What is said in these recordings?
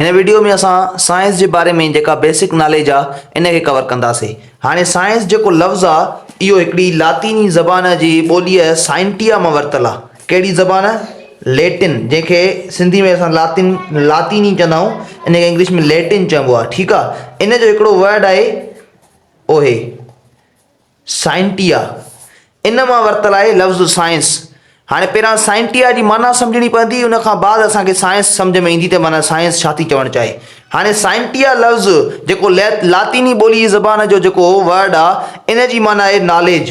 هن وڊيو ۾ اسان سائنس جي باري ۾ جيڪا بيسڪ ناليج آ ان کي ڪور ڪنداسي. هاڻي سائنس جيڪو لفظ آ اهو هڪڙي لاطيني زبان جي ٻوليء سائنٽيا مان ورتل آ. ڪهڙي زبان؟ ليٽن جنهن کي سنڌي ۾ اسان لاطين لاطيني چوندا آهيون ان کي انگلش ۾ ليٽن چئبو آ ٺيڪ آ. ان جو هڪڙو ورڊ آهي اوهي. سائنٽيا، ان مان ورتل آهي لفظ سائنس. هاڻي پهريان سائنٽيا جي معنيٰ سمجهڻي پوندي، ان کان بعد اسان کي سائنس سمجهه ۾ ايندي ته معنيٰ سائنس ڇا ٿي چوڻ چاهي. هاڻي سائنٽيا لفظ جيڪو لاطيني ٻولي جي زبان جو جيڪو Word آ، ان جي معنيٰ آهي Knowledge.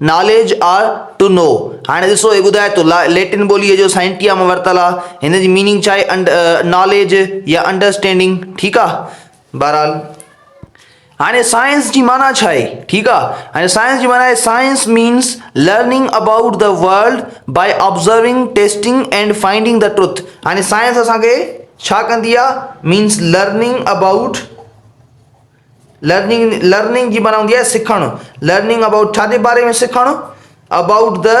Knowledge or to know هاڻي ڏسو هي ٻڌائي ٿو ليٽن ٻوليء جو سائنٽيا مان ورتل آهي هن جي ميننگ ڇا آهي ناليج يا انڊرسٽينڊنگ ٺيڪ آهي بهرحال هاڻي سائنس جي معنيٰ ڇا آهي ٺيڪ آهي هاڻي سائنس جي معنيٰ science means learning about the world by observing testing and finding the truth هاڻي سائنس اسانکي ڇا ڪندي آهي means learning about learning, Learning، جي معنيٰ هوندي آهي سکڻ. لرننگ ابائوٽ ڇا جي باري ۾ سکڻ؟ ابائوٽ دي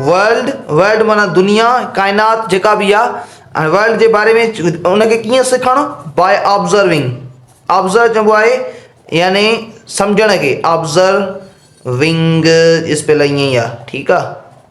ورلڊ، World، معنيٰ دنيا، ڪائنات جيڪا به آهي، ورلڊ جي باري ۾ ان کي ڪيئن سکڻ؟ بائي آبزرونگ، آبزرو چئبو آهي يعني سمجهڻ کي، آبزرونگ جي اسپيل ائين ئي آهي ٺيڪ آهي.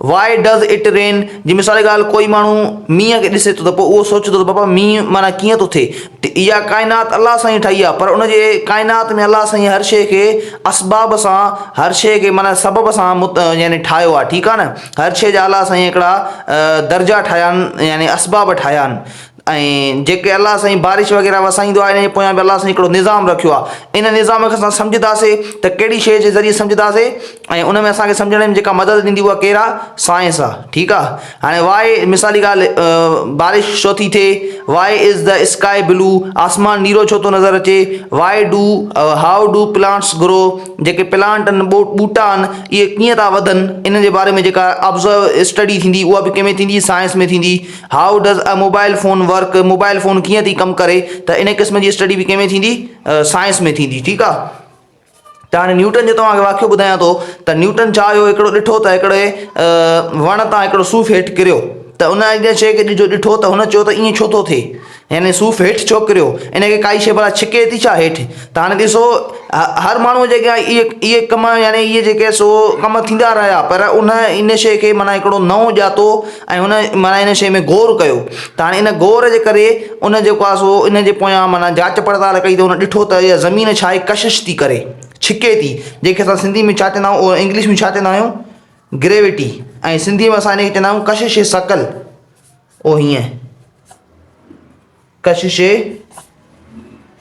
Why does it rain؟ جي مثال جي ڳالهه ڪوئي ماڻهو مينهن کي ڏسي ٿو ته پوء اهو سوچي ٿو ته بابا مينهن معنيٰ ڪيئن ٿو ٿئي؟ اها ڪائنات الله سائين ٺاهي آهي پر ان جي ڪائنات ۾ الله سائين هر شيء کي اسباب سان هر شيء کي معنيٰ سبب سان يعني ٺاهيو آهي ٺيڪ آهي نه هر شيء جا الله سائين هڪڙا درجا ٺاهيا آهن يعني اسباب ٺاهيا آهن ۽ جيڪي الله سائين بارش وغيره وسائيندو آهي ان جي پويان به الله سائين هڪڙو نظام رکيو آهي ان نظام کي اسان سمجهنداسي ته ڪهڙي شيء جي ذريعي سمجهنداسي ۽ ان ۾ اسان کي سمجهڻ ۾ جيڪا مدد ڏيندي اها ڪير آهي سائنس آهي ٺيڪ آهي هاڻي واء مثالي ڳالهه بارش ڇو ٿي ٿئي واء از د اسڪائي بلو آسمان نيرو ڇو ٿو نظر اچي why do how do plants grow جيڪي پلانٽ آهن ٻوٽا آهن اهي ڪيئن ٿا وڌن ان جي باري ۾ جيڪا آبزرو اسٽڊي ٿيندي اها به ڪنهن ۾ ٿيندي سائنس ۾ ٿيندي how does a mobile phone work, mobile phone ڪيئن ٿي ڪم ڪري، ته ان قسم جي اسٽڊي به ڪنهن ۾ ٿيندي سائنس ۾ ٿيندي ٺيڪ آ. ته هاڻي نيوٽن جو توهان کي واقعو ٻڌايان ٿو ته نيوٽن ڇا هيو هڪڙو ڏٺو ته هڪڙي وڻ تان هڪڙو صوف هيٺ ڪريو ته ان اڳيان شيء کي ڏجو ڏٺو ته هن چيو ته ايئن ڇو ٿو ٿئي. يعني صوف هيٺ ڇو ڪريو؟ ان کي ڪائي شيء ڀلا ڇڪي ٿي ڇا هيٺ؟ ته هاڻي ڏسو هر ماڻهوء جي اڳيان اهي اهي ڪم يعني اهي جيڪي سو ڪم ٿيندا رهيا پر ان ان شيء کي معنيٰ هڪڙو نئون ڄاتو ۽ ان معنيٰ ان شيء ۾ غور ڪيو ته هاڻي ان غور جي ڪري ان جيڪو آهي سو ان جي پويان معنيٰ جاچ پڙتال ڪئي ته هن ڏٺو ته اها زمين ڇا آهي ڪشش ٿي ڪري ڇڪي ٿي جنهن کي اسان سنڌي ۾ ڇا چوندا آهيون انگلش ۾ ڇا چوندا آهيون گريوٽي ۽ سنڌي ۾ اسان ان کي چوندا آهيون ڪشش ثقل او هيئن ڪشش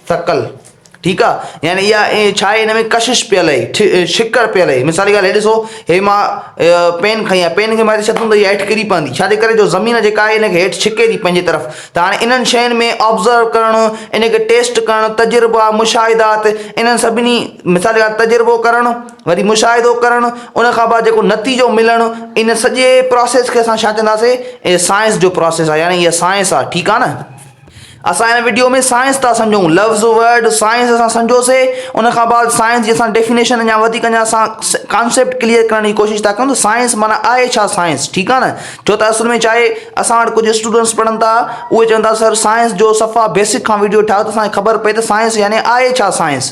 ثقل ٺيڪ آ يعني يا ڇا هي انهي ڪشش پيل هي ڇڪڙ پيل هي مثال جي ڳالهه هي ڏسو هي مان پين کڻي آيا پين کي مٿي ڇڏندم ته هي هيٺ ڪري پوندي ڇا جي ڪري جو زمين جيڪا آهي هن کي هيٺ ڇڪي ٿي پنهنجي طرف ته هاڻي انهن شين ۾ آبزرو ڪرڻ ان کي ٽيسٽ ڪرڻ تجربا مشاهدات انهن سڀني مثال جي ڳالهه تجربو ڪرڻ وري مشاهدو ڪرڻ، ان کان بعد جيڪو نتيجو ملڻ، ان سڄي پراسيس کي اسان ڇا چونداسين؟ هي سائنس جو پراسيس آهي يعني هيء سائنس آهي ٺيڪ آهي نه؟ اسان هن وڊيو ۾ سائنس ٿا سمجهون لفظ ورڊ سائنس اسان سمجهيوسي ان کان بعد سائنس جي اسان ڊيفينيشن اڃا وڌيڪ اڃا اسان ڪانسيپٽ ڪليئر ڪرڻ جي ڪوشش ٿا ڪيون ته سائنس معنيٰ آهي ڇا سائنس ٺيڪ آهي نه؟ ڇو ته اصل ۾ ڇا آهي اسان وٽ ڪجهه اسٽوڊنٽس پڙهن ٿا اهي چون ٿا سر سائنس جو صفا بيسڪ کان وڊيو ٺاهيو ته اسان کي خبر پئي ته سائنس يعني آهي ڇا سائنس؟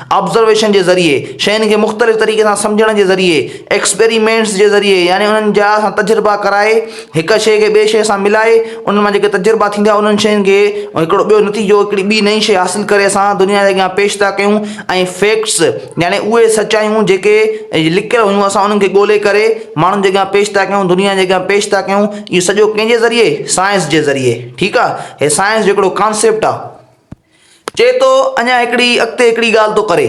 آبزرويشن جي ذريعي، شين کي مختلف طريقي سان سمجهڻ جي ذريعي، ايڪسپيريمينٽس جي ذريعي يعني انهن جا سان تجربا ڪرائي، هڪ شيء کي ٻي شيء سان ملائي، انهن مان جيڪي تجربا ٿيندا انهن شين کي هڪڙو ٻيو نتيجو هڪڙي ٻي نئين شيء حاصل ڪري اسان دنيا جي اڳيان پيش ٿا ڪيون ۽ فيڪٽس يعني اهي سچايون جيڪي لڪيل هيون اسان انهن کي ڳولي ڪري ماڻهن جي اڳيان پيش ٿا ڪيون دنيا جي اڳيان پيش ٿا ڪيون اهو سڄو ڪنهن جي ذريعي سائنس جي ذريعي ٺيڪ آ هي سائنس جو هڪڙو ڪانسيپٽ آ. چئي ٿو اڃا هڪڙي اڳتي هڪڙي ڳالهه ٿو ڪري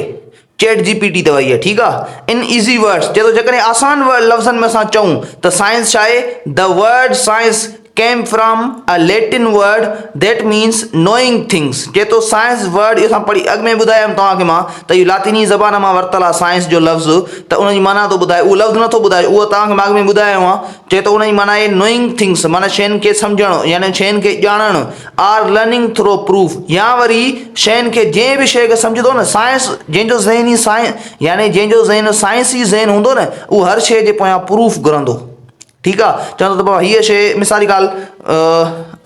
چيٽ جي پي ٽي ته اهي ٺيڪ آ ان ايزي ورڊس چئي ٿو جيڪڏهن آسان لفظن ۾ اسان چئون ته سائنس ڇا آهي The word science came from a Latin word that means knowing things چئي ٿو سائنس ورڊ اهو اسان پڙهي اڳ ۾ ٻڌايم توهان کي مان ته اهو لاطيني زبان مان ورتل آ سائنس جو لفظ ته ان جي معنيٰ ٿو ٻڌائي اهو لفظ نٿو ٻڌائي اهو توهان کي مان اڳ ۾ ٻڌايو آ چئي ٿو ان جي معنيٰ آهي Knowing things معنيٰ شين کي سمجهڻ يعني شين کي ڄاڻڻ آر لرننگ ٿرو پروف يا وري شين کي جنهن به شيء کي سمجهندو نه سائنس جنهن جو ذهن ئي سائن يعني جنهن جو ذهن سائنس ئي ذهن هوندو نه اهو هر شيء جي پويان پروف گهرندو ٺيڪ آ چوندو ته بابا هيء شيء مثال جي ڳالهه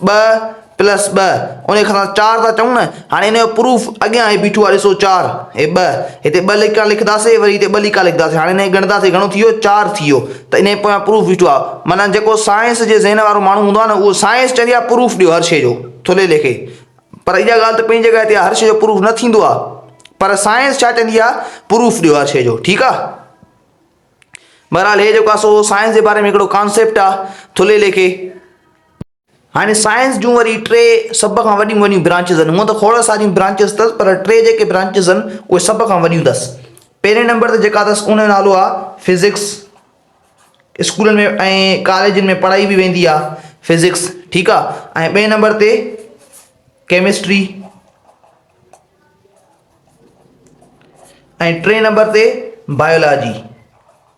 ٻه پلس ٻه ان کي اسان چار ٿا چئون نه هاڻي ان جو پروف اڳيان هي بيٺو آ ڏسو چار هي ٻه هتي ٻه لکيا لکنداسي وري هتي ٻه لکيا لکنداسي هاڻي هن کي ڳڻنداسي گهڻو ٿي ويو چار ٿي ويو ته انهي پويان پروف بيٺو آ معنيٰ جيڪو سائنس جي ذهن وارو ماڻهو هوندو آ نه اهو سائنس چوندي آ پروف ڏيو هر شي جو ٿلهي ليکي پر اها ڳالهه ته پنهنجي جڳهه تي آ هر شي جو پروف نه ٿيندو آ پر سائنس ڇا چوندي آ پروف ڏيو هر شي جو ٺيڪ آ بهرحال هي جيڪو آ سو سائنس جي باري ۾ هڪڙو ڪانسيپٽ آ ٿلهي ليکي هاڻي سائنس جون وري ٽي سڀ کان وڏيون وڏيون برانچز آهن. هونء ته کوڙ ساريون برانچز اٿس پر ٽي جيڪي برانچز آهن اهي سڀ کان وڏيون اٿس. پهرين نمبر تي جيڪا اٿس ان جو نالو آهي فزڪس. اسڪولن ۾ ۽ ڪاليجن ۾ پڙهائي به ويندي آهي فزڪس ٺيڪ آهي ۽ ٻئي نمبر تي ڪيمسٽري ۽ ٽئين نمبر تي بايولاجي.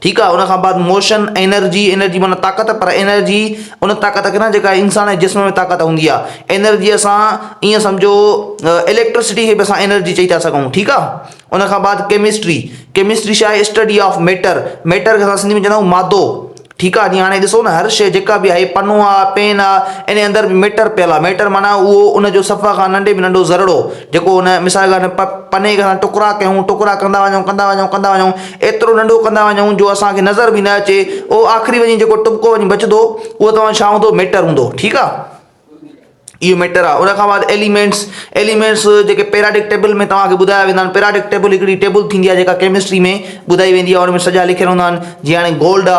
ٺيڪ آهي ان کان بعد موشن انرجي انرجي معنيٰ طاقت پر انرجي ان طاقت کي نه جيڪا انسان جي جسم ۾ طاقت هوندي آهي انرجيء سان ائين سمجهو اليڪٽرسٽي کي به اسان انرجي چئي ٿا سگهون ٺيڪ آهي ان کان بعد ڪيمسٽري ڪيمسٽري ڇا آهي اسٽڊي آف ميٽر ميٽر کي سنڌي ۾ چوندا آهيون مادو ٺيڪ آهي جي هاڻي ڏسو نه هر شي جيڪا به آهي پنو آهي پين آهي ان اندر ميٽر پيل آهي ميٽر معنيٰ اهو ان جو سفا کان ننڍي ۾ ننڍو ذرڙو جيڪو ان مثال پ پني کي ٽڪرا ڪيون ٽڪرا ڪندا وڃو ڪندا وڃو ڪندا وڃو ايترو ننڍو ڪندا وڃون جو اسان کي نظر به نه اچي اهو آخري وڃي جيڪو ٽٻڪو وڃي بچدو اهو توهان ڇا هوندو ميٽر هوندو ٺيڪ آ اهو ميٽر آ ان کان بعد ايليمينٽس ايليمينٽس جيڪي پيراڊڪ ٽيبل ۾ توهان کي ٻڌايا ويندا آهن پيراڊڪ ٽيبل هڪڙي ٽيبل ٿيندي آ جيڪا ڪيمسٽري ۾ ٻڌائي ويندي آ ان ۾ سڄا لکيل هوندا آهن جيئن هاڻي گولڊ آ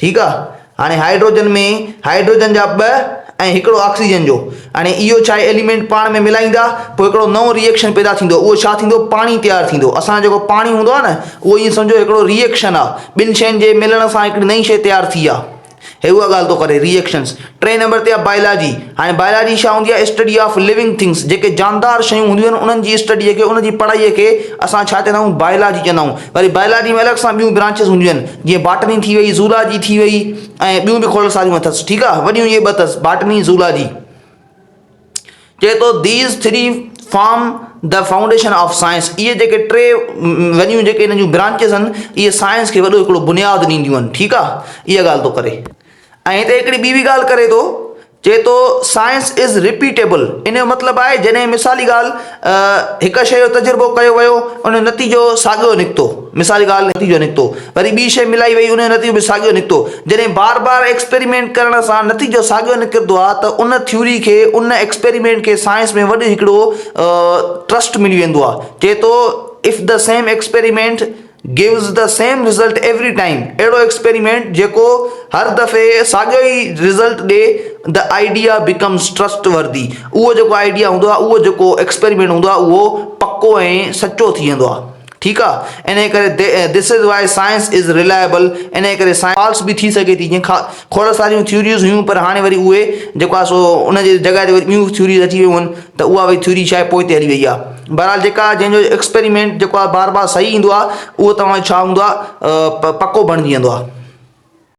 ٺيڪ آ هاڻي هائيڊروجن ۾ هائيڊروجن جا ٻه ۽ هڪڙو آڪسيجن جو هاڻي اهو ڇا ايليمينٽ پاڻ ۾ ملائيندا پوء هڪڙو نئون ري ايڪشن پيدا ٿيندو اهو ڇا ٿيندو پاڻي تيار ٿيندو اسان جو جيڪو پاڻي هوندو آ نه اهو ائين سمجهو هڪڙو ري ايڪشن آ ٻن شين جي ملڻ سان هڪڙي نئين شي تيار ٿي آ هي اها ڳالهه ٿو ڪري ري ايڪشنس ٽئين نمبر تي آهي بائلاجي، هاڻي بائلاجي ڇا هوندي آهي اسٽڊي آف لوينگ ٿنگس جيڪي جاندار شيون هونديون آهن انهن جي اسٽڊي کي انهن جي پڙهائي کي اسان ڇا چوندا آهيون بائلاجي چوندا آهيون وري بائلاجي ۾ الڳ سان ٻيون برانچز هونديون آهن جيئن باٽني ٿي وئي زولاجي ٿي وئي ۽ ٻيون به کول ساريون اٿس ٺيڪ آهي وڏيون اهي ٻه اٿس باٽني زولاجي چئي ٿو these three form the foundation of science اهي جيڪي ٽي وڏيون جيڪي هن جون برانچز آهن اهي سائنس کي وڏو هڪڙو بنياد ڏينديون آهن ٺيڪ آهي اها ڳالهه ٿو ڪري ۽ هتي هڪڙي ٻي به ڳالهه ڪري ٿو، چئي ٿو Science is repeatable ان جو مطلب آهي جڏهن مثالي ڳالهه هڪ شيء جو تجربو ڪيو ويو ان جو نتيجو ساڳيو نڪتو مثالي ڳالهه نتيجو نڪتو وري ٻي شيء ملائي وئي ان جو نتيجو به ساڳيو نڪتو جڏهن بار بار ايڪسپريمينٽ ڪرڻ سان نتيجو ساڳيو نڪرندو آهي ته ان ٿيوري کي ان ايڪسپريمينٽ کي سائنس ۾ وڏو هڪڙو ٽرسٽ ملي ويندو آهي چئي ٿو If the same experiment gives the same result every time اهڙو ايڪسپيريمينٽ جيڪو هر دفعي ساڳيو ئي رزلٽ ڏي the idea becomes trustworthy اهو جيڪو آئيڊيا هوندو آهي اهو جيڪو ايڪسپيريمينٽ هوندو آهي اهو پڪو ۽ سچو ٿي ويندو آهي ٺيڪ آهي انهي ڪري دس از وائي سائنس از ريلائبل انهي ڪري سائنس فالس به ٿي سگهي ٿي جيئن کوڙ ساريون ٿيوريز هيون پر هاڻي وري اهي جيڪو آهي سو ان جي جڳهه تي وري ٻيون ٿيوريز اچي ويون آهن ته اها وئي ٿيوري ڇا آهي پوء تي هلي وئي آهي بهرحال جيڪا جنهن جو ايڪسپريمينٽ جيڪو آهي بار بار صحيح ايندو آهي اهو توهان جو ڇا هوندو آهي پڪو بڻجي ويندو آهي